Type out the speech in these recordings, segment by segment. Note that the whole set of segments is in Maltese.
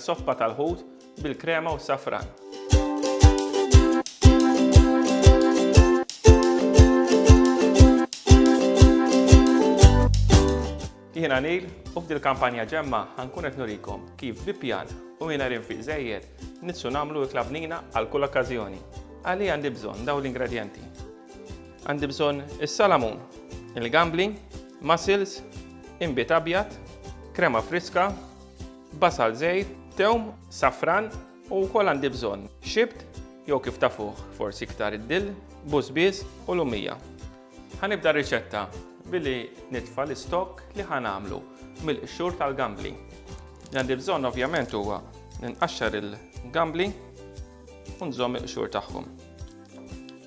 Soffa tal-ħut bil-krema u safran. Jien Anil u f'dil kampanja ġemma ħankun qed nurikom kif bi pjan u mingħajr infiq żejjed nitsu nagħmlu ikla bnina għal kull okkażjoni. Għalih għandi bżonn dawn l-ingredjenti. Għandi bżonn is-salamun, il-gambli, mussels, inbid abjad, krema friska, basal żgħir, tewm, safran u wkoll għandi bżonn xibt jew kif tafuh forsi iktar id-dill, bużbież u lumija. Ħa nibda r-riċetta billi nitfa' l-istokk li ħa nagħmlu mill-qxur tal-gambli. Li għandi bżonn ovvjament huwa ninqaxxar il-gambli u nżomm il-qxur tagħhom.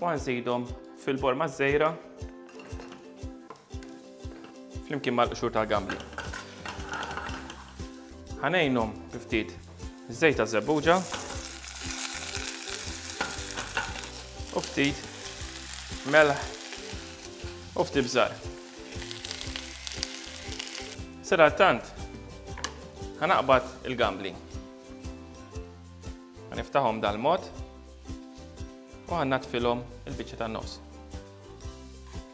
u għanżidhom fil-bol maż-żejra flimkien mal-qxur tal-gambli. Ħanejnhom ftit żejt ta' żebbuġa u ftit melħ u ftit bżar. Sera tant, ħanaqbad il-gambli. Ħaniftaħhom dal-mod. u ħannatfilhom il-biċċa tan-nofs.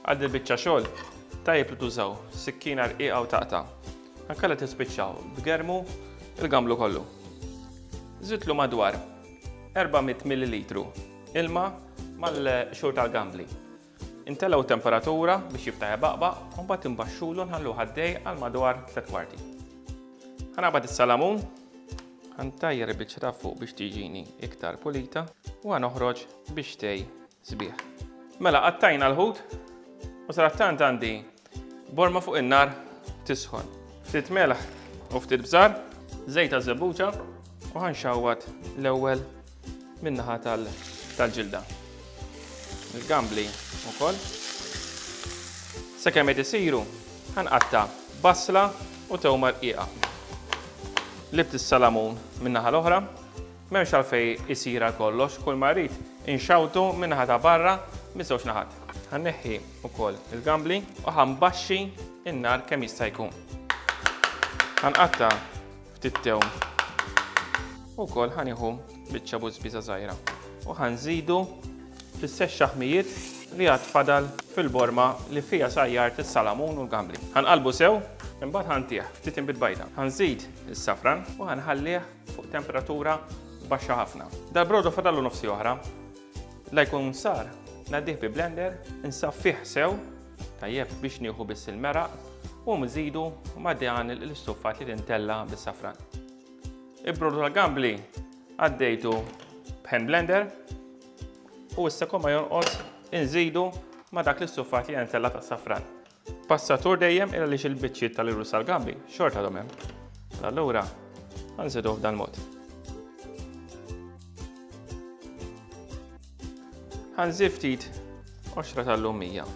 Għal din biċċa xogħol tajjeb li tużaw sikkina rqiqa u taqta. Ankella tispiċċaw b'germu il-gamblu kollu. Żidlu madwar 400 ml ilma mal-xogħol tal-gambli. Intellgħu t-temperatura biex jibta' jbaqbaq u mbagħad imbaxxulu nħalluh għaddej għal madwar tliet kwarti. Ħanaqbad is-salamun, ħantajjar il-biċċa ta' fuq biex tiġini iktar pulita u ħanoħroġ bix-xtej sbieħ. Mela qattajna l-ħut u sadattant għandi Borma fuq in-nar tisħon. Ftit melaħ u ftit bżar, żejt ta' żebbuġa u ħanxawwat l-ewwel min-naħa tal-ġilda. Il-gambli wkoll. Sakemm qed isiru ħanqatta' basla u tewma rqiqa. Libt is-salamun min-naħa l-oħra M'hemmx għalfejn isir għal kollox, kull ma rrid inxawtu min-naħa ta' barra miż-żewġ naħat. Ħa nneħħi wkoll il-gambli u ħa nbaxxi n-nar kemm jista' jkun. Ħa nqatta' ftit tewm. U wkoll ħa nieħu biċċa bużbiża żgħira u ħa nżidu fl-istess xaħmijiet li għad fadal fil-borma li fiha sajjart is-salamun u l-gambli. Ħa nqallbu sew, imbagħad ħa ntih ftit inbid bajda. Ħa nżid is-safran u ħa nħallih fuq temperatura baxxa ħafna. Dal-brodo fadallu nofsi oħra. La jkun sar, nadih bi blender, nsaffih sew, tajjeb biex nieħu biss il-meraq u mżidu ma' dan l-istuffat li tintella bis-safran. Il-brodo tal-gambli għaddejtu b'hand blender u issa komma jonqos inżidu ma' dak l-istuffat li jintella tas-safran. Passatur dejjem il għaliex il-biċċiet tal-irus tal-gambi xorta għadhom hemm. Allura, għanżidu f'dan mod. Għanżid ftit qoxra tal-lum 100.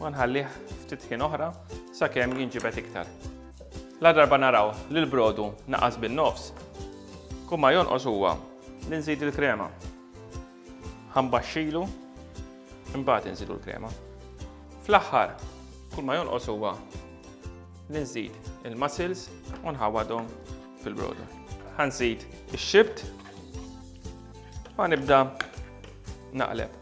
Ma nħallih ftit ħin oħra sakemm jinġibet iktar. La darba naraw li l-brodu naqas bin-nofs, kumma jonqos huwa li nżid il-krema. Ħambaxxilu, imbagħad inżidu l-krema. Fl-aħħar, kull ma jonqos huwa li nżid il-mussels u nħawadhom fil-brodo. Ħanżid ix-xibt u nibda naqleb.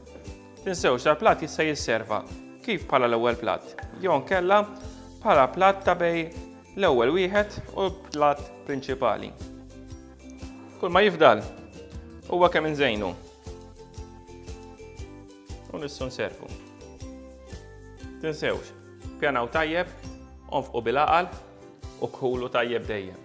Tinsewx dal-platt jista' jisserva kif bħala l-ewwel platt, jew nkella bħala platt ta' bej l-ewwel wieħed u l-platt prinċipali. Kull ma jifdal huwa kemm inżejnu. U nissu nservu. Tinsewx, pjanaw tajjeb, onfqu bil-aqal u kħulu tajjeb dejjem.